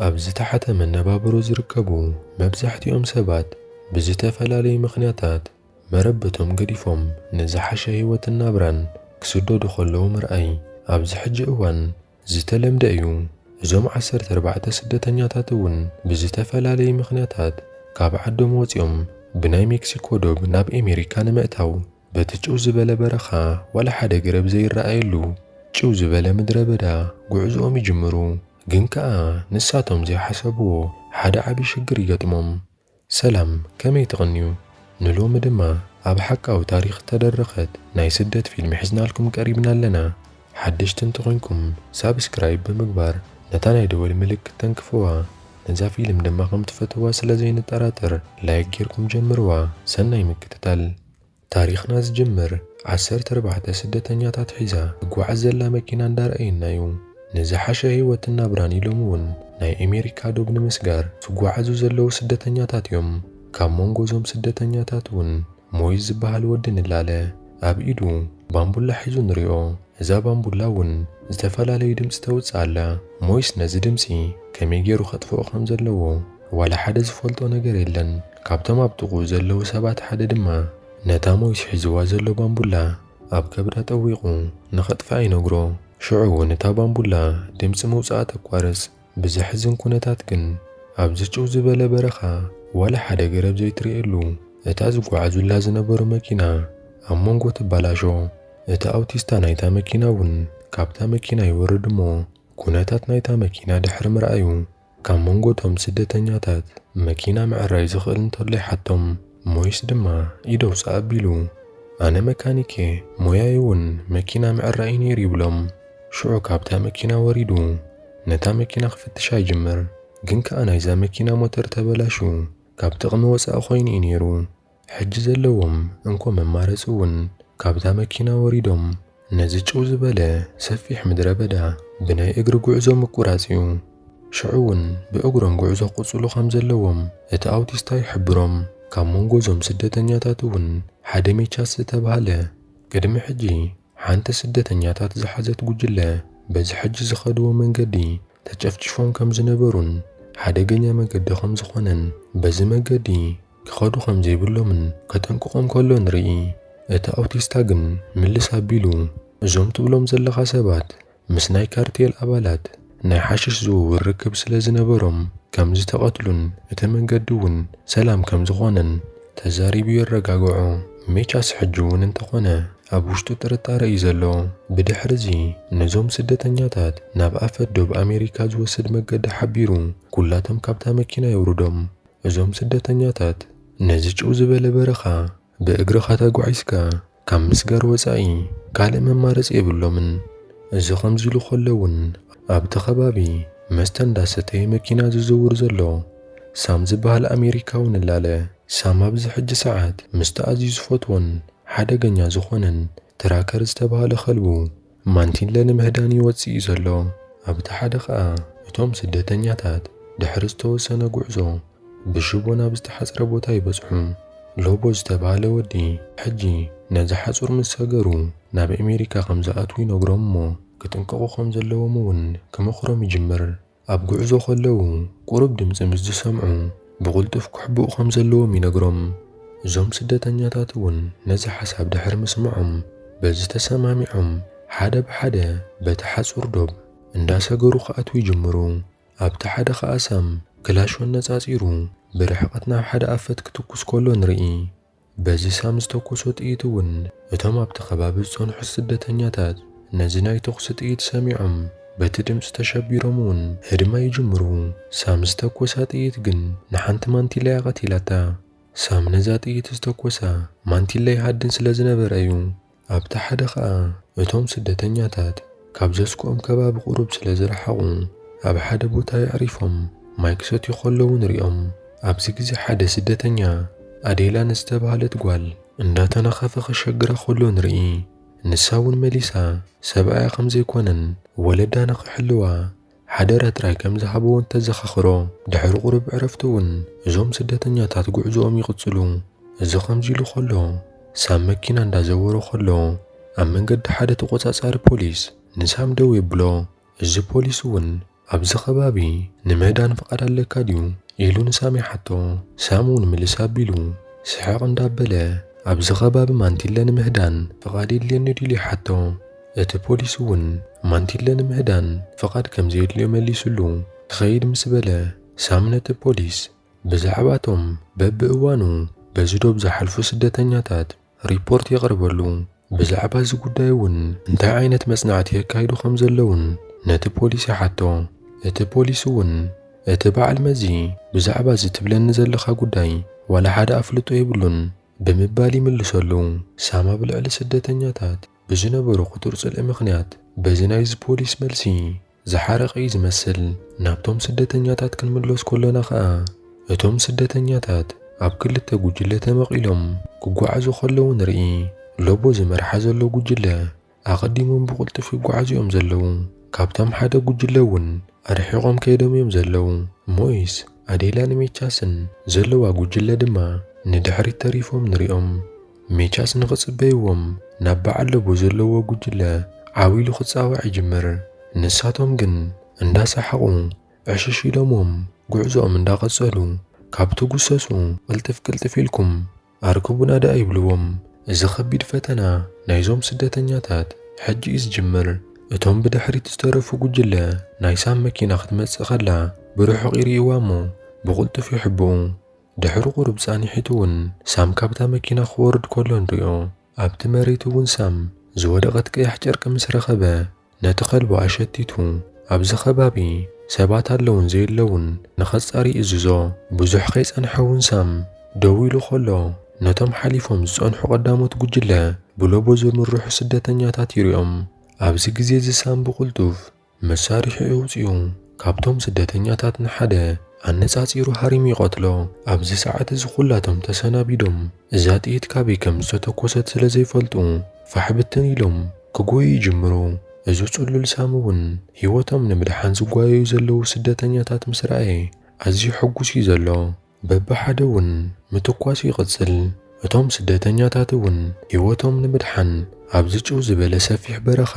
ኣብ ዝተሓተ መነባብሮ ዝርከቡ መብዛሕትኦም ሰባት ብዝተፈላለዩ ምኽንያታት መረበቶም ገዲፎም ንዝሓሸ ህይወትን ናብራን ክስደዱ ከለዉ ምርኣይ ኣብዚ ሕጂ እዋን ዝተለምደ እዩ። እዞም ዓሰርተ ኣርባዕተ ስደተኛታት እውን ብዝተፈላለዩ ምኽንያታት ካብ ዓዶም ወፂኦም ብናይ ሜክሲኮ ዶብ ናብ ኤሜሪካ ንምእታው በቲ ጭው ዝበለ በረኻ ዋላ ሓደ ገረብ ዘይረኣየሉ ጭው ዝበለ ምድረ በዳ ጉዕዝኦም ይጅምሩ። ግን ከኣ ንሳቶም ዘይሓሰብዎ ሓደ ዓቢ ሽግር ይገጥሞም። ሰላም ከመይ ትቕንዩ? ንሎሚ ድማ ኣብ ሓቃዊ ታሪኽ እተደረኸት ናይ ስደት ፊልም ሒዝናልኩም ቀሪብና ኣለና። ሓደሽቲ እንተኾይንኩም ሳብስክራይብ ብምግባር ነታ ናይ ደወል ምልክት ተንክፍዋ። ነዛ ፊልም ድማ ከም ትፈትውዋ ስለ ዘይንጠራጠር ላይክ ጌርኩም ጀምርዋ። ሰናይ ምክትታል። ታሪኽና ዝጅምር ዓሰርተ ኣርባዕተ ስደተኛታት ሒዛ ትጓዓዝ ዘላ መኪና እንዳረኣይና ዩ። ንዝሓሸ ህይወትን ናብራን ኢሎም ውን ናይ ኤሜሪካ ዶብ ንምስጋር ዝጓዓዙ ዘለዉ ስደተኛታት ዮም። ካብ ሞንጎ እዞም ስደተኛታት ውን ሞይዝ ዝባሃል ወዲ ንላለ ኣብ ኢዱ ባንቡላ ሒዙ ንሪኦ። እዛ ባንቡላ ውን ዝተፈላለዩ ድምጺ ተውጽእ ኣላ። ሞይስ ነዚ ድምጺ ከመይ ጌሩ ከጥፍኦ ከም ዘለዎ ዋላ ሓደ ዝፈልጦ ነገር የለን። ካብቶም ኣብ ጥቕኡ ዘለዉ ሰባት ሓደ ድማ ነታ ሞይስ ሒዙዋ ዘሎ ባምቡላ ኣብ ከብዳ ጠዊቑ ንኸጥፍኣ ይነግሮ። ሽዑ እውን እታ ባምቡላ ድምጺ ምውጽኣ ተቋርጽ። ብዘሕዝን ኵነታት ግን ኣብዚ ጭው ዝበለ በረኻ ዋላ ሓደ ገረብ ዘይትርእየሉ እታ ዝጓዓዙላ ዝነበሩ መኪና ኣብ መንጎ ትበላሾ። እቲ ኣውቲስታ ናይታ መኪና እውን ካብታ መኪና ይወርድ እሞ ኵነታት ናይታ መኪና ድሕሪ ምርኣዩ ካብ መንጎ እቶም ስደተኛታት መኪና ምዕራይ ዝኽእል እንተሎ ይሓቶም ሞይስ ድማ ኢድ ኣውጽእ ኣቢሉ ኣነ መካኒክ እየ ሞያይ እውን መኪና ምዕራይ እዩ ነይሩ ይብሎም። ሽዑ ካብታ መኪና ወሪዱ ነታ መኪና ክፍትሻ ይጅምር ግን ከኣ ናይዛ መኪና ሞተር ተበላሽዩ ካብ ጥቕሚ ወጻኢ ኮይኑ እዩ ነይሩ። ሕጂ ዘለዎም እንኮ መማረጺ እውን ካብታ መኪና ወሪዶም ነዚ ጭው ዝበለ ሰፊሕ ምድረ በዳ ብናይ እግሪ ጉዕዞ ምቁራጽ እዩ። ሽዑ እውን ብእግሮም ጉዕዞ ክቕጽሉ ከም ዘለዎም እቲ ኣውቲስታ ይሕብሮም። ካብ መንጎ እዞም ስደተኛታት እውን ሓደ ሜቻስ ዝተባህለ ቅድሚ ሕጂ ሓንቲ ስደተኛታት ዝሓዘት ጉጅለ በዚ ሕጂ ዝኸድዎ መንገዲ ተጨፍጪፎም ከም ዝነበሩን ሓደገኛ መገዲ ከም ዝኾነን በዚ መገዲ ክኸዱ ከም ዘይብሎምን ከጠንቅቖም ከሎ ንርኢ። እቲ ኣውቲስታ ግን ምልስ ኣቢሉ እዞም ትብሎም ዘለኻ ሰባት ምስ ናይ ካርቴል ኣባላት ናይ ሓሽሽ ዝውውር ርክብ ስለ ዝነበሮም ከም ዝተቐትሉን እቲ መንገዲ እውን ሰላም ከም ዝኾነን ተዛሪቡ የረጋግዖ። ሜቻስ ሕጂ እውን እንተኾነ ኣብ ውሽጡ ጥርጣረ እዩ ዘሎ። ብድሕሪ እዚ ነዞም ስደተኛታት ናብ ኣፈ ዶብ ኣሜሪካ ዝወስድ መገዲ ሓቢሩ ኩላቶም ካብታ መኪና የውርዶም። እዞም ስደተኛታት ነዚ ጭው ዝበለ በረኻ ብእግርኻ ተጓዒዝካ ካብ ምስጋር ወጻኢ ካልእ መማረጺ የብሎምን። እዚ ከምዚ ኢሉ ከሎ እውን ኣብቲ ከባቢ መስተ እንዳሰተየ መኪና ዝዝውር ዘሎ ሳም ዝበሃል ኣሜሪካዊ ንላለ ሳም ኣብዚ ሕጂ ሰዓት ምስቲ ኣዝዩ ዝፈትዎን ሓደገኛ ዝኾነን ትራከር ዝተባህለ ከልቡ ማንቲለ ንምህዳን እዩ ወጺኡ ዘሎ። ኣብቲ ሓደ ከኣ እቶም ስደተኛታት ድሕሪ ዝተወሰነ ጉዕዞ ብሽቦ ናብ ዝተሓጽረ ቦታ ይበጽሑ። ሎቦ ዝተባህለ ወዲ ሕጂ ነዚ ሓጹር ምስ ሰገሩ ናብ ኣሜሪካ ከም ዝኣትዉ ይነግሮም እሞ ክጥንቀቑ ከም ዘለዎም እውን ክመኽሮም ይጅምር። ኣብ ጉዕዞ ከለዉ ቁሩብ ድምጺ ምስ ዝሰምዑ ብቕልጡፍ ክሕብኡ ከም ዘለዎም ይነግሮም። እዞም ስደተኛታት እውን ነዚ ሓሳብ ድሕሪ ምስምዖም በዚ ተሰማሚዖም ሓደ ብሓደ በቲ ሓጹር ዶብ እንዳሰገሩ ክኣትዉ ይጅምሩ። ኣብቲ ሓደ ከኣ ሳም ክላሾ ኣነጻጺሩ ብርሕቐት ናብ ሓደ ኣፈት ክትኩስ ከሎ ንርኢ። በዚ ሳም ዝተኮሶ ጥይት እውን እቶም ኣብቲ ከባቢ ዝጸንሑ ስደተኛታት ነዚ ናይ ተኹሲ ጥይት ሰሚዖም በቲ ድምጺ ተሸቢሮም እውን ህድማ ይጅምሩ። ሳም ዝተኮሳ ጥይት ግን ንሓንቲ ማንቲላ እያ ቀቲላታ። ሳም ነዛ ጥይት ዝተኮሳ ማንቲላ ይሃድን ስለዝነበረ እዩ። ኣብቲ ሓደ ኸኣ እቶም ስደተኛታት ካብ ዘስግኦም ከባቢ ቁሩብ ስለ ዝረሓቑ ኣብ ሓደ ቦታ የዕሪፎም ማይ ክሰትዩ ከለዉ ንሪኦም። ኣብዚ ግዜ ሓደ ስደተኛ ኣዴላ ንዝተባህለት ጓል እንዳተናኸፈ ከሸግራ ከሎ ንርኢ። ንሳ ውን መሊሳ ሰብኣያ ከም ዘይኮነን ወለዳ ንኽሕልዋ ሓደራ ጥራይ ከም ዝሃብዎን ተዘኻኽሮ። ድሕሪ ቁሩብ ዕረፍቲ'ውን እዞም ስደተኛታት ጉዕዞኦም ይቕጽሉ። እዚ ከምዚ ኢሉ ከሎ ሳም መኪና እንዳዘወሮ ከሎ ኣብ መንገዲ ሓደ ተቖጻጻሪ ፖሊስ ንሳም ደው የብሎ። እዚ ፖሊስ'ውን ኣብዚ ከባቢ ንምህዳን ፍቓድ ኣለካ ድዩ? ኢሉ ንሳም ይሓቶ። ሳም'ውን ምልስ ኣቢሉ ስሕቕ እንዳበለ ኣብዚ ከባቢ ማንቲለ ንምህዳን ፍቓድ የድልየኒ ድዩ ኢሉ ይሓቶ። እቲ ፖሊስ እውን ማንቲለ ንምህዳን ፍቓድ ከም ዘየድልዮ መሊሱሉ። ክኸይድ ምስ በለ፣ ሳም ነቲ ፖሊስ ብዛዕባ እቶም በብእዋኑ በዚ ዶብ ዝሓልፉ ስደተኛታት ሪፖርት የቕርበሉ፣ ብዛዕባ እዚ ጕዳይ እውን እንታይ ዓይነት መጽናዕቲ የካይዱ ከም ዘለዉን ነቲ ፖሊስ ይሓቶ። እቲ ፖሊስ እውን እቲ በዓል መዚ ብዛዕባ እዚ ትብለኒ ዘለኻ ጕዳይ ዋላ ሓደ ኣፍልጦ የብሉን ብምባል ይምልሰሉ። ሳም ኣብ ልዕሊ ስደተኛታት ብዝነበሮ ክቱር ጽልኢ ምኽንያት በዚ ናይዚ ፖሊስ መልሲ ዝሓረቐ እዩ ዝመስል። ናብቶም ስደተኛታት ክንምለስ ከሎና ከኣ እቶም ስደተኛታት ኣብ ክልተ ጉጅለ ተመቒሎም ክጓዓዙ ከለዉ ንርኢ። ሎቦ ዝመርሓ ዘሎ ጉጅለ ኣቐዲሞም ብቕልጡፍ ይጓዓዙ እዮም ዘለዉ። ካብቶም ሓደ ጉጅለ እውን ኣርሒቖም ከይዶም እዮም ዘለዉ። ሞይስ፣ ኣዴላን ሜቻስን ዘለዋ ጉጅለ ድማ ንድሕሪት ተሪፎም ንሪኦም። ሜቻስ ንኽጽበይዎም ናብ በዓል ለቡ ዘለዎ ጉጅለ ዓው ኢሉ ክጻዋዕ ይጅምር። ንሳቶም ግን እንዳሰሓቑ ዕሽሽ ኢሎምዎም ጉዕዞኦም እንዳቐጸሉ ካብ ትጉሰሱ ቅልጥፍ ቅልጥፍ ኢልኩም ኣርክቡና ደኣ ይብልዎም። እዚ ከቢድ ፈተና ናይዞም ስደተኛታት ሕጂ እዩ ዝጅምር። እቶም ብድሕሪት ዝተረፉ ጉጅለ ናይ ሳም መኪና ክትመጽእ ከላ ብርሑቕ ይርእይዋሞ ብቕልጡፍ ይሕብኡ። ድሕሪ ቁሩብ ጻኒሒቱ እውን ሳም ካብታ መኪና ክወርድ ከሎ ንሪኦ። ኣብቲ መሬት እውን ሳም ዝወደቐት ቀያሕ ጨርቂ ምስ ረኸበ ነቲ ከልቡ ኣሸቲቱ ኣብዚ ከባቢ ሰባት ኣለውን ዘየለውን ንኸጻሪ ይእዝዞ። ብዙሕ ከይጸንሐ እውን ሳም ደው ኢሉ ከሎ ነቶም ሓሊፎም ዝጸንሑ ቀዳሞት ጉጅለ ብሎቦ ዝምርሑ ስደተኛታት ይሪኦም። ኣብዚ ግዜ እዚ ሳም ብቕልጡፍ መሳርሒኡ ኣውጺኡ ካብቶም ስደተኛታት ንሓደ ኣነጻጺሩ ሃሪሙ ይቐትሎ። ኣብዚ ሰዓት እዚ ኩላቶም ተሰናቢዶም እዛ ጥይት ካበይ ከም ዝተተኮሰት ስለ ዘይፈልጡ ፋሕ ብትን ኢሎም ክጎዩ ይጅምሩ። እዚ ጽሉል ሳሚ እውን ህይወቶም ንምድሓን ዝጓየዩ ዘለዉ ስደተኛታት ምስ ረኣየ ኣዝዩ ሕጉስ እዩ ዘሎ። በብሓደ እውን ምትኳሱ ይቕጽል፣ እቶም ስደተኛታት እውን ህይወቶም ንምድሓን ኣብዚ ጭው ዝበለ ሰፊሕ በረኻ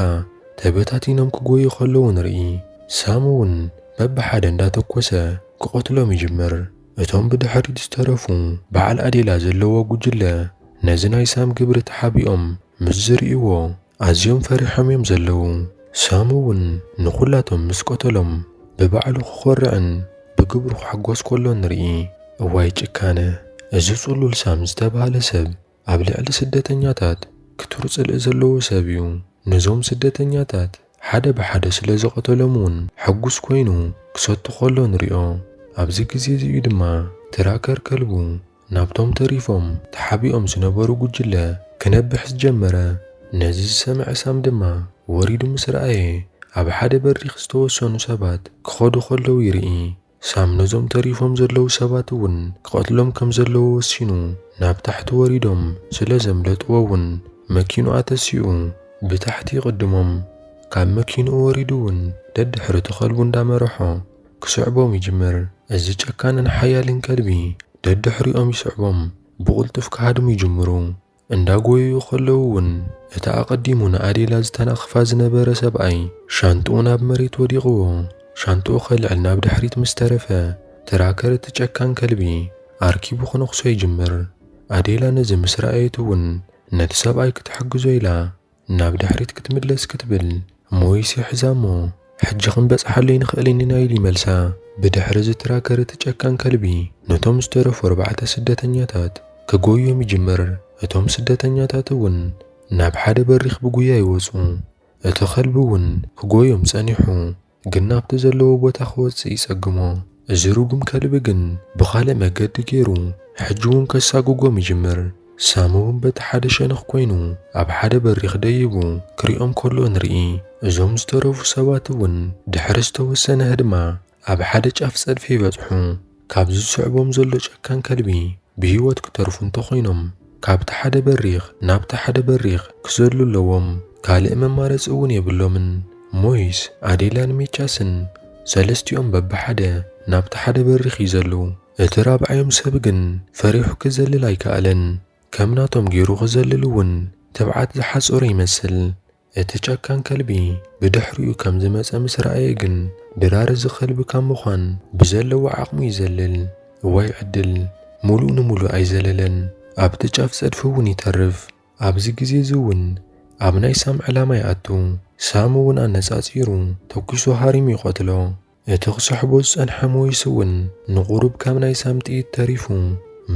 ተበታቲኖም ክጎዩ ከለዉ ንርኢ። ሳም እውን በብሓደ እንዳተኮሰ ክቐትሎም ይጅምር። እቶም ብድሕሪት ዝተረፉ በዓል ኣዴላ ዘለዎ ጉጅለ ነዚ ናይ ሳም ግብሪ ተሓቢኦም ምስ ዝርእይዎ ኣዝዮም ፈሪሖም እዮም ዘለዉ። ሳም እውን ንዅላቶም ምስ ቀተሎም ብባዕሉ ክዀርዕን ብግብሩ ክሕጐስ ከሎ ንርኢ። እዋይ ጭካነ! እዚ ጽሉል ሳም ዝተባህለ ሰብ ኣብ ልዕሊ ስደተኛታት ክቱር ጽልኢ ዘለዎ ሰብ እዩ። ነዞም ስደተኛታት ሓደ ብሓደ ስለ ዝቐተሎም እውን ሕጕስ ኰይኑ ክሰቱ ከሎ ንሪኦ። ኣብዚ ግዜ እዚ እዩ ድማ ትራከር ከልቡ ናብቶም ተሪፎም ተሓቢኦም ዝነበሩ ጉጅለ ክነብሕ ዝጀመረ። ነዚ ዝሰምዐ ሳም ድማ ወሪዱ ምስ ረኣየ ኣብ ሓደ በሪኽ ዝተወሰኑ ሰባት ክኸዱ ከለዉ ይርኢ። ሳም ነዞም ተሪፎም ዘለዉ ሰባት እውን ክቐትሎም ከም ዘለዎ ወሲኑ ናብ ታሕቲ ወሪዶም ስለ ዘምለጥዎ እውን መኪንኡ ኣተሲኡ ብታሕቲ ይቕድሞም። ካብ መኪንኡ ወሪዱ እውን ደድሕሪ ተኸልቡ እንዳመረሖ። ክስዕቦም ይጅምር። እዚ ጨካንን ሓያልን ከልቢ ደድሕሪኦም ይስዕቦም፣ ብቕልጡፍ ክሃድሙ ይጅምሩ። እንዳ ጎየዩ ከለዉ እውን እቲ ኣቐዲሙ ንኣዴላ ዝተናኽፋ ዝነበረ ሰብኣይ ሻንጥኡ ናብ መሬት ወዲቕዎ። ሻንጥኡ ከልዕል ናብ ድሕሪት ምስ ተረፈ፣ ትራከር እቲ ጨካን ከልቢ ኣርኪቡ ክነኽሶ ይጅምር። ኣዴላ ነዚ ምስ ረኣየት እውን ነቲ ሰብኣይ ክትሕግዞ ኢላ ናብ ድሕሪት ክትምለስ ክትብል ሞይስ ይሕዛ እሞ ሕጂ ክንበጽሓሉ ኣይንኽእልን ኢና ኢሉ ይመልሳ። ብድሕሪ እዚ ትራከር እቲ ጨካን ከልቢ ነቶም ዝተረፉ ኣርባዕተ ስደተኛታት ክጎዮም ይጅምር፣ እቶም ስደተኛታት እውን ናብ ሓደ በሪኽ ብጉያ ይወጹ፣ እቲ ከልቢ እውን ክጎዮም ጸኒሑ። ግን ናብቲ ዘለዎ ቦታ ክወጽእ ይጸግሞ። እዚ ርጉም ከልቢ ግን ብኻልእ መገዲ ገይሩ ሕጂ'ውን ከሳጉጎም ይጅምር። ሳም'ውን በቲ ሓደ ሸነኽ ኮይኑ ኣብ ሓደ በሪኽ ደይቡ ክሪኦም ከሎ ንርኢ። እዞም ዝተረፉ ሰባት'ውን ድሕሪ ዝተወሰነ ህድማ ኣብ ሓደ ጫፍ ጸድፊ ይበጽሑ። ካብ ዝስዕቦም ዘሎ ጨካን ከልቢ ብህይወት ክተርፉ እንተኾይኖም ካብቲ ሓደ በሪኽ ናብቲ ሓደ በሪኽ ክዘሉ ኣለዎም። ካልእ መማረጺ እውን የብሎምን። ሞይስ፣ ኣዴላን ሚቻስን ሰለስቲኦም በብሓደ ናብቲ ሓደ በሪኽ ይዘሉ። እቲ ራብዓዮም ሰብ ግን ፈሪሑ ክዘልል ኣይከኣለን። ከም ናቶም ገይሩ ክዘልል እውን ትብዓት ዝሓጸሮ ይመስል። እቲ ጨካን ከልቢ ብድሕሪኡ ከም ዝመጸ ምስ ረኣየ ግን ድራር እዚ ከልቢ ካብ ምዃን ብዘለዎ ዓቕሙ ይዘልል። እዋይ ዕድል! ምሉእ ንምሉእ ኣይዘለለን፣ ኣብቲ ጫፍ ጸድፊ እውን ይተርፍ። ኣብዚ ግዜ እዚ እውን ኣብ ናይ ሳም ዕላማ ይኣቱ፣ ሳም እውን ኣነጻጺሩ ተኲሱ ሃሪሙ ይቐትሎ። እቲ ክስሕቦ ዝጸንሐ ሞይስ እውን ንቑሩብ ካብ ናይ ሳም ጥይት ተሪፉ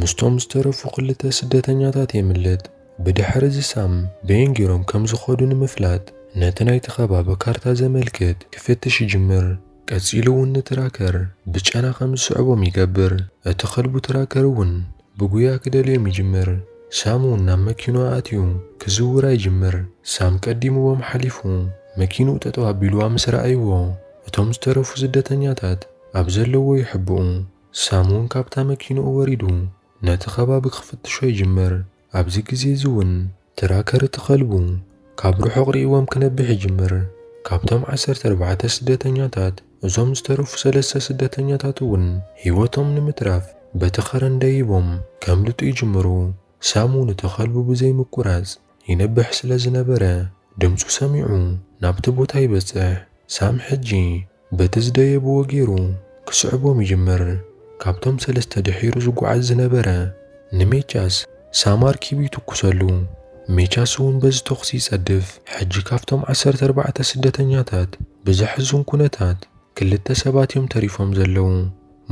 ምስቶም ዝተረፉ ክልተ ስደተኛታት የምልጥ። ብድሕሪ እዚ ሳም በየን ጌሮም ከም ዝኸዱ ንምፍላጥ ነቲ ናይቲ ከባቢ ካርታ ዘመልክት ክፍትሽ ይጅምር። ቀጺሉ እውን ንትራከር ብጨና ከም ዝስዕቦም ይገብር። እቲ ከልቡ ትራከር እውን ብጉያ ክደልዮም ይጅምር። ሳም እውን ናብ መኪንኡ ኣትዩ ክዝውራ ይጅምር። ሳም ቀዲምዎም ሓሊፉ መኪንኡ ጠጠው ኣቢልዋ ምስ ረኣይዎ እቶም ዝተረፉ ስደተኛታት ኣብ ዘለዎ ይሕብኡ። ሳም እውን ካብታ መኪንኡ ወሪዱ ነቲ ከባቢ ክፍትሾ ይጅምር። ኣብዚ ግዜ እዚ እውን ትራከር እቲ ከልቡ ካብ ርሑቕ ርእይዎም ክነብሕ ይጅምር። ካብቶም ዓሰርተ ኣርባዕተ ስደተኛታት እዞም ዝተረፉ ሰለስተ ስደተኛታት እውን ህይወቶም ንምትራፍ በቲ ከረን ደይቦም ከምልጡ ይጅምሩ። ሳም እውን እቲ ከልቡ ብዘይምቁራጽ ይነብሕ ስለ ዝነበረ ድምጹ ሰሚዑ ናብቲ ቦታ ይበጽሕ። ሳም ሕጂ በቲ ዝደየብዎ ገይሩ ክስዕቦም ይጅምር። ካብቶም ሰለስተ ድሒሩ ዝጓዓዝ ዝነበረ ንሜቻስ ሳማር ኪቡ ይትኩሰሉ። ሜቻስ እውን በዚ ተኹሲ ይጸድፍ። ሕጂ ካብቶም ዓሰርተ ኣርባዕተ ስደተኛታት ብዘሕዝን ኩነታት ክልተ ሰባት እዮም ተሪፎም ዘለዉ።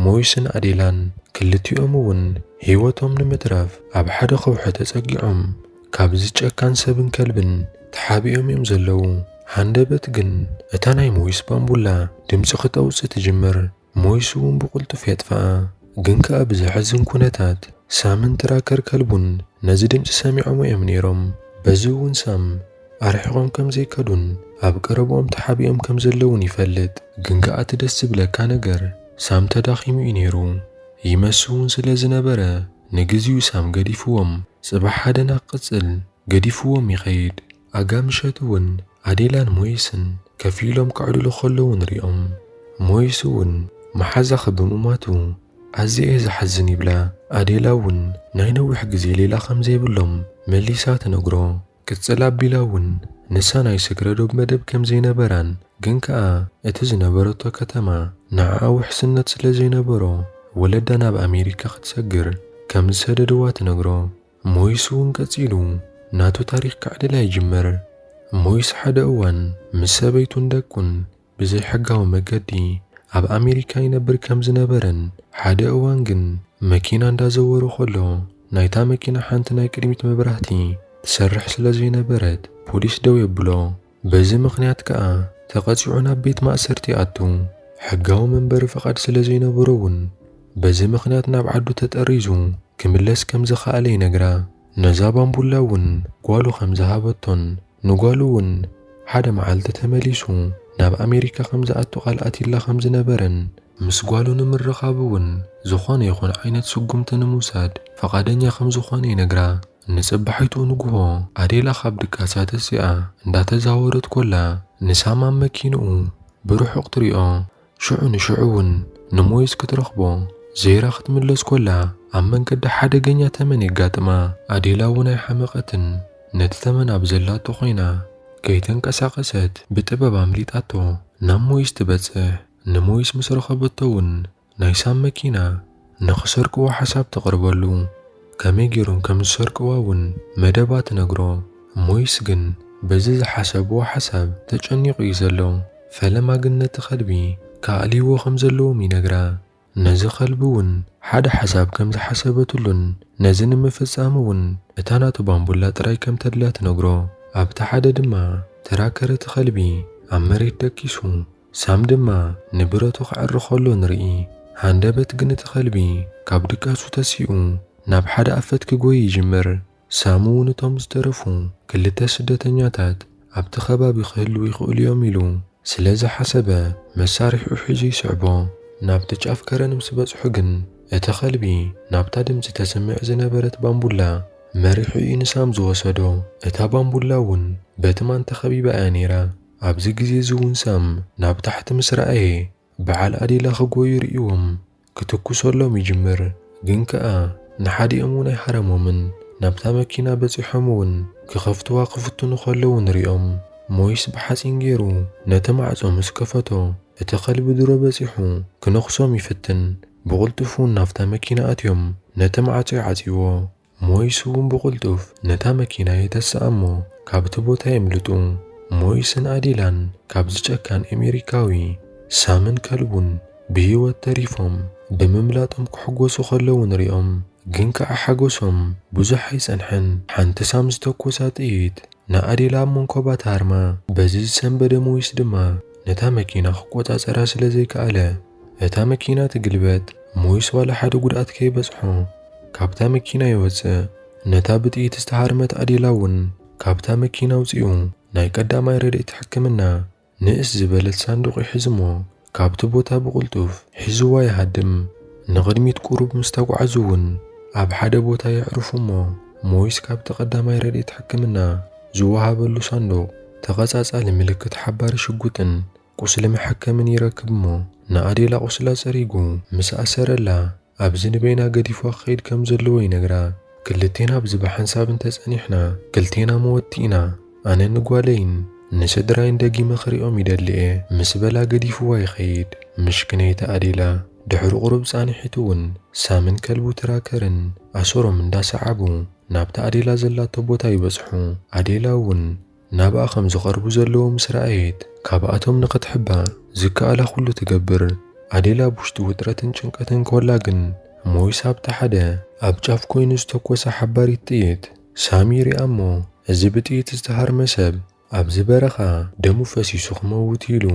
ሞይስን ኣዴላን ክልቲኦም እውን ህይወቶም ንምትራፍ ኣብ ሓደ ከውሒ ተጸጊዖም ካብዚ ጨካን ሰብን ከልብን ተሓቢኦም እዮም ዘለዉ። ሃንደበት ግን እታ ናይ ሞይስ ባምቡላ ድምጺ ክተውጽእ ትጅምር፣ ሞይስ እውን ብቕልጡፍ የጥፍኣ። ግን ከኣ ብዘሕዝን ኩነታት ሳምን ትራከር ከልቡን ነዚ ድምጺ ሰሚዖሞ እዮም ነይሮም፣ በዚ እውን ሳም፣ ኣርሒቆም ከም ዘይከዱን ኣብ ቀረብኦም ተሓቢኦም ከም ዘለዉን ይፈልጥ። ግን ከኣ እቲ ደስ ዝብለካ ነገር ሳም ተዳኺሙ እዩ ነይሩ። ይመስ እውን ስለ ዝነበረ ንግዚኡ ሳም ገዲፍዎም ጽባሕ ኣደና ክቅጽል ገዲፍዎም ይኸይድ። ኣጋ ምሸት እውን ኣዴላን ሞይስን ከፍ ኢሎም ከዕልሉ ከለዉ ንሪኦም። ሞይስ እውን መሓዛኺ ብምሟቱ ኣዝየ እየ ዝሓዝን ይብላ። ኣዴላ እውን ናይ ነዊሕ ግዜ ሌላ ከም ዘይብሎም መሊሳ ትነግሮ። ቅጽል ኣቢላ ውን ንሳ ናይ ስግረ-ዶብ መደብ ከም ዘይነበራን ግን ከኣ እቲ ዝነበረቶ ከተማ ንዓኣ ውሕስነት ስለ ዘይነበሮ ወለዳ ናብ ኣሜሪካ ክትሰግር ከም ዝሰደድዋ ትነግሮ። ሞይስ ውን ቀጺሉ ናቱ ታሪኽ ከዕልል ኣይጅምር። ሞይስ ሓደ እዋን ምስ ሰበይቱን ደቁን ብዘይሕጋዊ መገዲ ኣብ ኣሜሪካ ይነብር ከም ዝነበረን ሓደ እዋን ግን መኪና እንዳዘወረ ከሎ ናይታ መኪና ሓንቲ ናይ ቅድሚት መብራህቲ ትሰርሕ ስለ ዘይነበረት ፖሊስ ደው የብሎ። በዚ ምኽንያት ከኣ ተቐጺዑ ናብ ቤት ማእሰርቲ ይኣቱ። ሕጋዊ መንበሪ ፍቓድ ስለ ዘይነበሮ'ውን በዚ ምኽንያት ናብ ዓዱ ተጠሪዙ ክምለስ ከም ዝኸኣለ ይነግራ። ነዛ ባምቡላ እውን ጓሉ ከም ዝሃበቶን ንጓሉ እውን ሓደ መዓልቲ ተመሊሱ ናብ ኣሜሪካ ከም ዝኣቱ ቃል ኣትዩላ ከም ዝነበረን፣ ምስ ጓሉ ንምርኻብ እውን ዝኾነ ይኹን ዓይነት ስጉምቲ ንምውሳድ ፍቓደኛ ከም ዝኾነ ይነግራ። ንጽባሒቱ ንግሆ ኣዴላ ካብ ድቃሳ ተሲኣ እንዳተዛወረት ኮላ ንሳም ኣብ መኪንኡ ብርሑቕ ትሪኦ። ሽዑ ንሽዑ እውን ንሞይስ ክትረኽቦ ዘይራ ክትምለስ ኮላ ኣብ መንገዳ ሓደገኛ ተመን የጋጥማ። ኣዴላ እውን ኣይሓመቐትን፣ ነቲ ተመን ኣብ ዘላቶ ኮይና ከይተንቀሳቐሰት ብጥበብ ኣምሊጣቶ ናብ ሞይስ ትበጽሕ። ንሞይስ ምስ ረኸበቶ እውን ናይ ሳብ መኪና ንኽሰርቅዎ ሓሳብ ተቕርበሉ፣ ከመይ ገይሮም ከም ዝሰርቅዋ እውን መደባ ትነግሮ። ሞይስ ግን በዚ ዝሓሰብዎ ሓሳብ ተጨኒቑ እዩ ዘሎ። ፈለማ ግን ነቲ ኸልቢ ክኣልይዎ ከም ዘለዎም ይነግራ። ነዚ ኸልቢ እውን ሓደ ሓሳብ ከም ዝሓሰበትሉን ነዚ ንምፍጻም እውን እታ ናቱ ባምቡላ ጥራይ ከም ተድልያ ትነግሮ። ኣብቲ ሓደ ድማ ተራከር እቲ ኸልቢ ኣብ መሬት ደቂሱ። ሳም ድማ ንብረቱ ከዕሪ ከሎ ንርኢ። ሃንደበት ግን እቲ ከልቢ ካብ ድቃሱ ተሲኡ ናብ ሓደ ኣፈት ክጎዪ ይጅምር። ሳም'ውን እቶም ዝተረፉ ክልተ ስደተኛታት ኣብቲ ከባቢ ክህልዉ ይኽእሉ'ዮም ኢሉ ስለ ዝሓሰበ መሳርሒኡ ሒዙ ይስዕቦ። ናብቲ ጫፍ ከረን ምስ በጽሑ ግን እቲ ከልቢ ናብታ ድምጺ ተስምዕ ዝነበረት ባምቡላ መሪሑ'ዩ ንሳም ዝወሰዶ። እታ ባምቡላ'ውን በቲ ማን ተኸቢባ'ያ ነይራ። ኣብዚ ግዜ እዚ እውን ሳም ናብ ታሕቲ ምስ ረኣየ ብዓል ኣዴላ ክጎዩ ርእይዎም ክትኩሰሎም ይጅምር ግን ከኣ ንሓዲኦም እውን ኣይሃረሞምን ናብታ መኪና በጺሖም እውን ክኸፍትዋ ክፍትኑ ከለዉ ንሪኦም ሞይስ ብሓጺን ጌሩ ነቲ ማዕጾ ምስ ከፈቶ እቲ ከልቢ ድሮ በጺሑ ክነኽሶም ይፍትን ብቕልጡፍ እውን ናብታ መኪና ኣትዮም ነቲ ማዕጾ ይዓጽይዎ ሞይስ እውን ብቕልጡፍ ነታ መኪና የተስኣ እሞ ካብቲ ቦታ የምልጡ። ሞይስን ኣዴላን ካብዚ ጨካን ኤሜሪካዊ ሳምን ከልቡን ብህይወት ተሪፎም ብምምላጦም ክሕጎሱ ከለዉ ንሪኦም። ግን ከኣ ሓጎሶም ብዙሕ ኣይጸንሐን። ሓንቲ ሳም ዝተኮሳ ጥይት ንኣዴላ ኣብ መንኮባ ትሃርማ። በዚ ዝሰንበደ ሞይስ ድማ ነታ መኪና ክቆጻጸራ ስለ ዘይከኣለ እታ መኪና ትግልበጥ ሞይስ ዋላ ሓደ ጉድኣት ከይበጽሖ ካብታ መኪና ይወጽእ። ነታ ብጥይት ዝተሃርመት ኣዴላ እውን ካብታ መኪና ኣውጺኡ ናይ ቀዳማይ ረድኤት ሕክምና ንእስ ዝበለት ሳንዱቕ ይሕዝሞ ካብቲ ቦታ ብቕልጡፍ ሒዝዋ ይሃድም። ንቕድሚት ቁሩብ ምስ ተጓዕዙ እውን ኣብ ሓደ ቦታ የዕርፉሞ ሞይስ ካብቲ ቀዳማይ ረድኤት ሕክምና ዝወሃበሉ ሳንዱቕ ተቐጻጻሊ ምልክት ሓባሪ ሽጉጥን ቁስሊ መሐከምን ይረክብ'ሞ ንኣዴላ ቁስላ ጸሪጉ ምስ ኣሰረላ ኣብዚ ንበይና ገዲፉዋ ክኸይድ ከም ዘለዎ ይነግራ። ክልቴና ኣብዚ ብሓንሳብ እንተ ጸኒሕና ክልቴና መወትቲ ኢና። ኣነ ንጓለይን ንስድራይን ደጊመ ክሪኦም ይደሊ'የ ምስ በላ ገዲፉዋ ይኸይድ። ምሽክነይቲ ኣዴላ ድሕሪ ቁሩብ ጻንሒት'ውን ሳምን ከልቡ ትራከርን ኣሰሮም እንዳ ሰዓቡ ናብታ ኣዴላ ዘላቶ ቦታ ይበጽሑ። ኣዴላ'ውን። ናብኣ ኸም ዚቐርቡ ዘለዉ ምስ ረኣየት፣ ካብኣቶም ንኽትሕባእ ዚከኣላ ዅሉ ትገብር። ኣዴል ኣብ ውሽጢ ውጥረትን ጭንቀትን ከላ ግን፣ ሞይስ ኣብቲ ሓደ ኣብ ጫፍ ኰይኑ ዝተኰሰ ሓባሪት ጥይት ሳሚ ይርኣ እሞ፣ እዚ ብጥይት ዝተሃርመ ሰብ ኣብዚ በረኻ ደሙ ፈሲሱ ኺመውት እዩ ኢሉ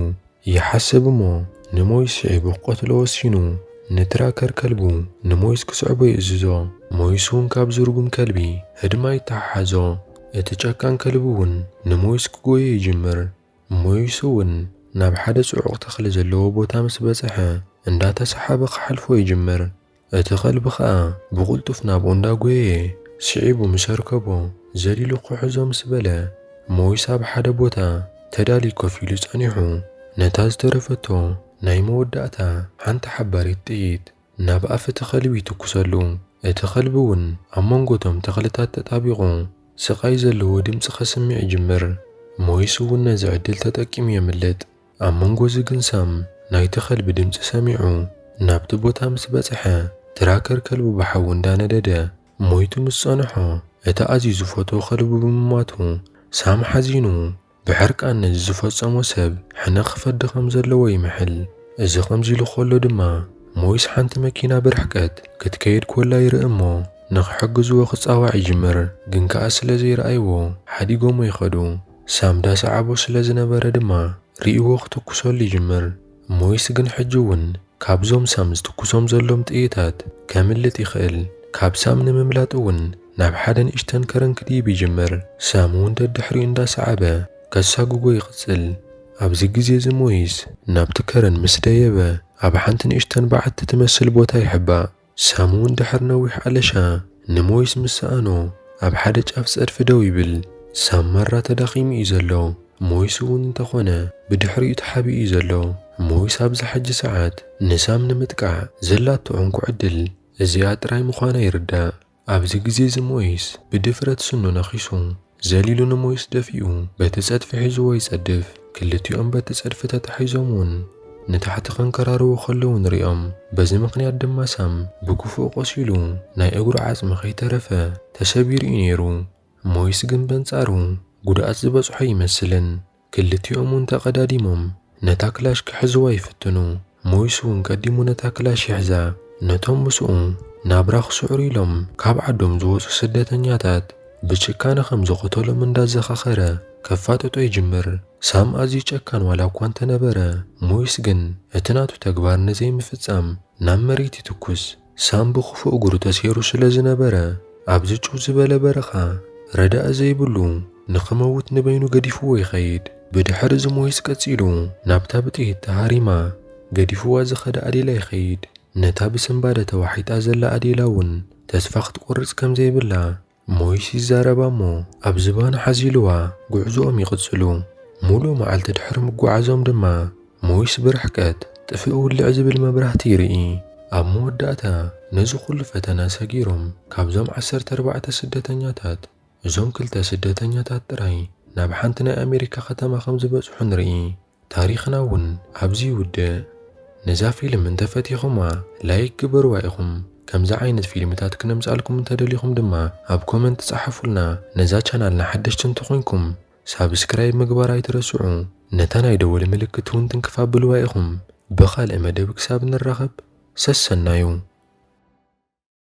ይሓስብ እሞ ንሞይስ ስዒቡ ክቐትሎ ወሲኑ። ንትራከር ከልቡ ንሞይስ ክስዕቦ ይእዝዞ። ሞይስ እውን ካብዚ ርጉም ከልቢ ህድማ ይተሓሓዞ። እቲ ጨካን ከልቢ እውን ንሞይስ ክጎዮ ይጅምር። ሞይስ እውን ናብ ሓደ ጽዑቕ ተኽሊ ዘለዎ ቦታ ምስ በጽሐ እንዳተሰሓበ ክሓልፎ ይጅምር። እቲ ኸልቢ ኸኣ ብቕልጡፍ ናብኡ እንዳ ጐየየ ስዒቡ ምስ ኣርከቦ፣ ዘሊሉ ክሕዞ ምስ በለ፣ ሞይስ ኣብ ሓደ ቦታ ተዳልዩ ኮፍ ኢሉ ጸኒሑ፣ ነታ ዝተረፈቶ ናይ መወዳእታ ሓንቲ ሓባሪት ጥይት ናብ ኣፍ እቲ ኸልቢ ይትኩሰሉ። እቲ ኸልቢ እውን ኣብ መንጎ እቶም ተኽልታት ተጣቢቑ ስቓይ ዘለዎ ድምጺ ከስምዕ ይጅምር። ሞይስ እውን ነዚ ዕድል ተጠቂሙ የምልጥ። ኣብ መንጎዚ ግን ሰም ናይቲ ከልቢ ድምጺ ሰሚዑ ናብቲ ቦታ ምስ በጽሐ ትራከር ከልቡ ብሓዊ እንዳነደደ ሞይቱ ምስ ጸንሖ እቲ ኣዝዩ ዝፈትዎ ከልቡ ብምሟቱ ሳም ሓዚኑ ብሕርቃን ነዚ ዝፈጸሞ ሰብ ሕነ ክፈዲ ከም ዘለዎ ይምሕል። እዚ ከምዚ ኢሉ ከሎ ድማ ሞይስ ሓንቲ መኪና ብርሕቀት ክትከይድ ኮላ ይርኢ እሞ ንኽሕግዝዎ ክጻዋዕ ይጅምር ግን ከኣ ስለ ዘይረኣይዎ ሓዲጎሞ ይኸዱ። ሳምዳ ሰዓቦ ስለ ዝነበረ ድማ ርእይዎ ክትኩሰሉ ይጅምር። ሞይስ ግን ሕጂ እውን ካብዞም ሳም ዝትኩሶም ዘሎም ጥይታት ከምልጥ ይኽእል። ካብ ሳም ንምምላጥ እውን ናብ ሓደ ንእሽተን ከረን ክድይብ ይጅምር። ሳም እውን ደድሕሪኡ እንዳሰዓበ ከሳጉጎ ይቕጽል። ኣብዚ ግዜ እዚ ሞይስ ናብቲ ከረን ምስ ደየበ ኣብ ሓንቲ ንእሽተን በዓቲ ትመስል ቦታ ይሕባእ። ሰሙን ድሕሪ ነዊሕ ኣለሻ ንሞይስ ምስ ሰኣኖ ኣብ ሓደ ጫፍ ጸድፊ ደው ይብል። ሳም ማራ ተዳኺሙ እዩ ዘሎ፣ ሞይስ እውን እንተኾነ ብድሕሪኡ ተሓቢኡ እዩ ዘሎ። ሞይስ ኣብዛ ሕጂ ሰዓት ንሳም ንምጥቃዕ ዘላቶ ዕንኩ ዕድል እዚኣ ጥራይ ምዃና ይርዳእ። ኣብዚ ግዜ እዚ ሞይስ ብድፍረት ስኑ ነኺሱ፣ ዘሊሉ ንሞይስ ደፊኡ በቲ ጸድፊ ሒዝዎ ይጸድፍ። ክልቲኦም በቲ ጸድፊ ተታሒዞም እውን ንታሕቲ ከንከራርዉ ከለዉ ንርእዮም። በዚ ምኽንያት ድማ ሳም ብክፉእ ቆሲሉ ናይ እግሩ ዓጽሚ ከይተረፈ ተሰቢሩ እዩ ነይሩ። ሞይስ ግን በንጻሩ ጉድኣት ዝበጽሖ ኣይመስልን። ክልቲኦም እውን ተቐዳዲሞም ነታ ክላሽ ክሕዝዋ ይፍትኑ። ሞይስ እውን ቀዲሙ ነታ ክላሽ ይሕዛ። ነቶም ምስኡ ናብራ ክስዕሩ ኢሎም ካብ ዓዶም ዝወጹ ስደተኛታት ብጭካነ ከም ዝቐተሎም እንዳዘኻኸረ ከፋጥጦ ይጅምር። ሳም ኣዝዩ ጨካን ዋላ እኳ እንተነበረ፣ ሞይስ ግን እቲ ናቱ ተግባር ንዘይምፍጻም ናብ መሬት ይትኩስ። ሳም ብኽፉእ እግሩ ተሰይሩ ስለ ዝነበረ፣ ኣብዚ ጭው ዝበለ በረኻ ረዳኢ ዘይብሉ ንኽመውት ንበይኑ ገዲፍዎ ይኸይድ። ብድሕሪ እዚ ሞይስ ቀጺሉ ናብታ ብጥይት ተሃሪማ ገዲፍዋ ዝኸደ ኣዴላ ይኸይድ። ነታ ብስንባደ ተዋሒጣ ዘላ ኣዴላ'ውን ተስፋ ክትቆርጽ ከም ዘይብላ ሞይስ ይዛረባ እሞ ኣብ ዝባኑ ሓዚሉዋ ጉዕዞኦም ይቕጽሉ። ሙሉእ መዓልቲ ድሕሪ ምጉዓዞም ድማ ሞይስ ብርሕቀት ጥፍእ ውልዕ ዝብል መብራህቲ ይርኢ። ኣብ መወዳእታ ነዚ ኩሉ ፈተና ሰጊሮም ካብዞም ዓሰርተ ኣርባዕተ ስደተኛታት እዞም ክልተ ስደተኛታት ጥራይ ናብ ሓንቲ ናይ ኣሜሪካ ከተማ ከም ዝበጽሑ ንርኢ። ታሪኽና ውን ኣብዚ ይውድእ። ነዛ ፊልም እንተፈቲኹማ ላይክ ግበርዋ ኢኹም ከምዚ ዓይነት ፊልምታት ክነምጻልኩም እንተደሊኹም ድማ ኣብ ኮመንት ጸሓፉልና ነዛ ቻናልና ሓደሽቲ እንተኾይንኩም ሳብስክራይብ ምግባር ኣይትረስዑ ነታ ናይ ደወል ምልክት ውን ትንክፍ ኣብልዋ ኢኹም ብኻልእ መደብ ክሳብ ንራኸብ ሰሰናዩ።